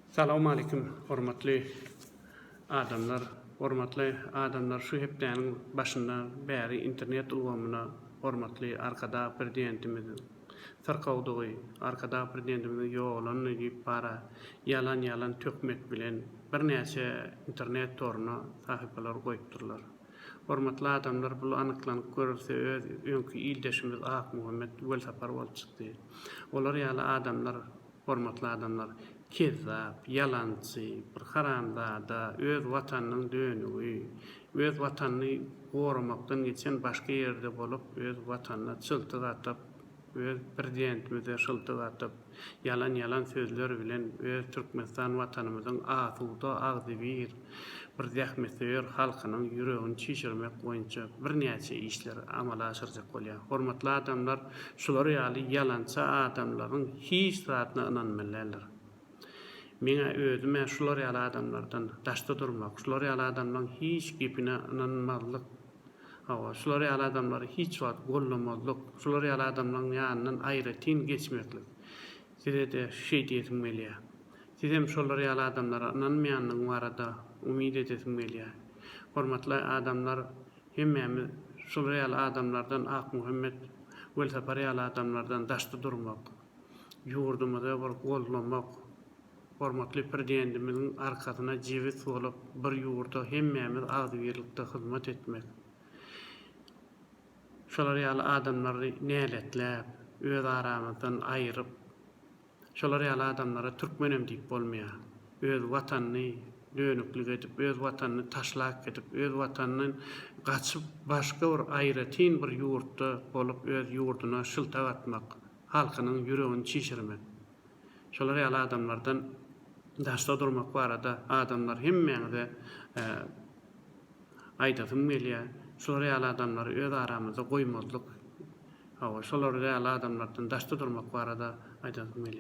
Salawmaleýkim hormatly adamlar. Hormatly adamlar şu hepdäniň başynda bäri internet ulgamyna hormatly arkadag prezidentimiziň syrkawdygy, arkadag prezidentimiziň ýogalany diýip bara ýalan ýalan töhmet bilen birnäçe internet toruna sahypalary goýupdyrlar. Hormatly adamlar bul anyklanyp görülse öz öňki ildeşimiz Akmuhammet welsapar bolup çykdy. Olar ýaly adamlar hormatly adamlar kezzap, ýalançy, bir haramzada, öz watanynyň dönügi, öz watanyny goramakdan geçen başga ýerde bolup öz watanyna çyltyk atyp, öz prezidentimize şyltyk atyp, Ýalan ýalan sözler bilen öz Türkmenistan watanymyzyň asuda, agzybir, bir zähmetsöýer halkynyň ýüregini çişirmek boýunça birnäçe işler amala aşyrjak bolýar. Hormatly adamlar şular ýaly ýalançy adamlaryň hiç zadyna ynanmaly däldir. Meňä özümä şular ýaly adamlardan daşda durmak, şular ýaly adamlaryň hiç gepine ynanmazlyk, Hawa, şular ýaly adamlary hiç wagt gollamazlyk, şular ýaly adamlaryň ýanyndan aýratyn geçmezlik. Size-de şeý diýesim gelýär. Sizem şolar ýaly adamlara ynanmaýandygyň barada umyt edesiň gelýär. Hormatly adamlar, hemmämiz şular ýaly adamlardan Akmuhammet Welsapar ýaly adamlardan daşda durmak, ýurdumyza bir goldamak, Hormatly Prdendimiziň arkasyna jebis bolup bir ýurda hemmämiz agzybirlikde hyzmat etmek, şolar ýaly adamlary näletläp, öz aramyzdan aýyryp, şolar ýaly adamlara türkmenem diýip bolmaýar. Öz Watanyny dönüklik edip, öz Watanyny taşlap gidip, öz Watanyndan gaçyp başga bir aýratyn bir ýurtda bolup öz ýurduna şyltak atmak, halkynyň ýüregini çişirmek. Şolar ýaly adamlardan daşda durmak barada adamlar hemmäňize aýdasym gelýär. Şular ýaly adamlary öz aramyzda goýmazlyk. Hawa, şolar ýaly adamlardan daşda durmak barada aýdasym gelýär.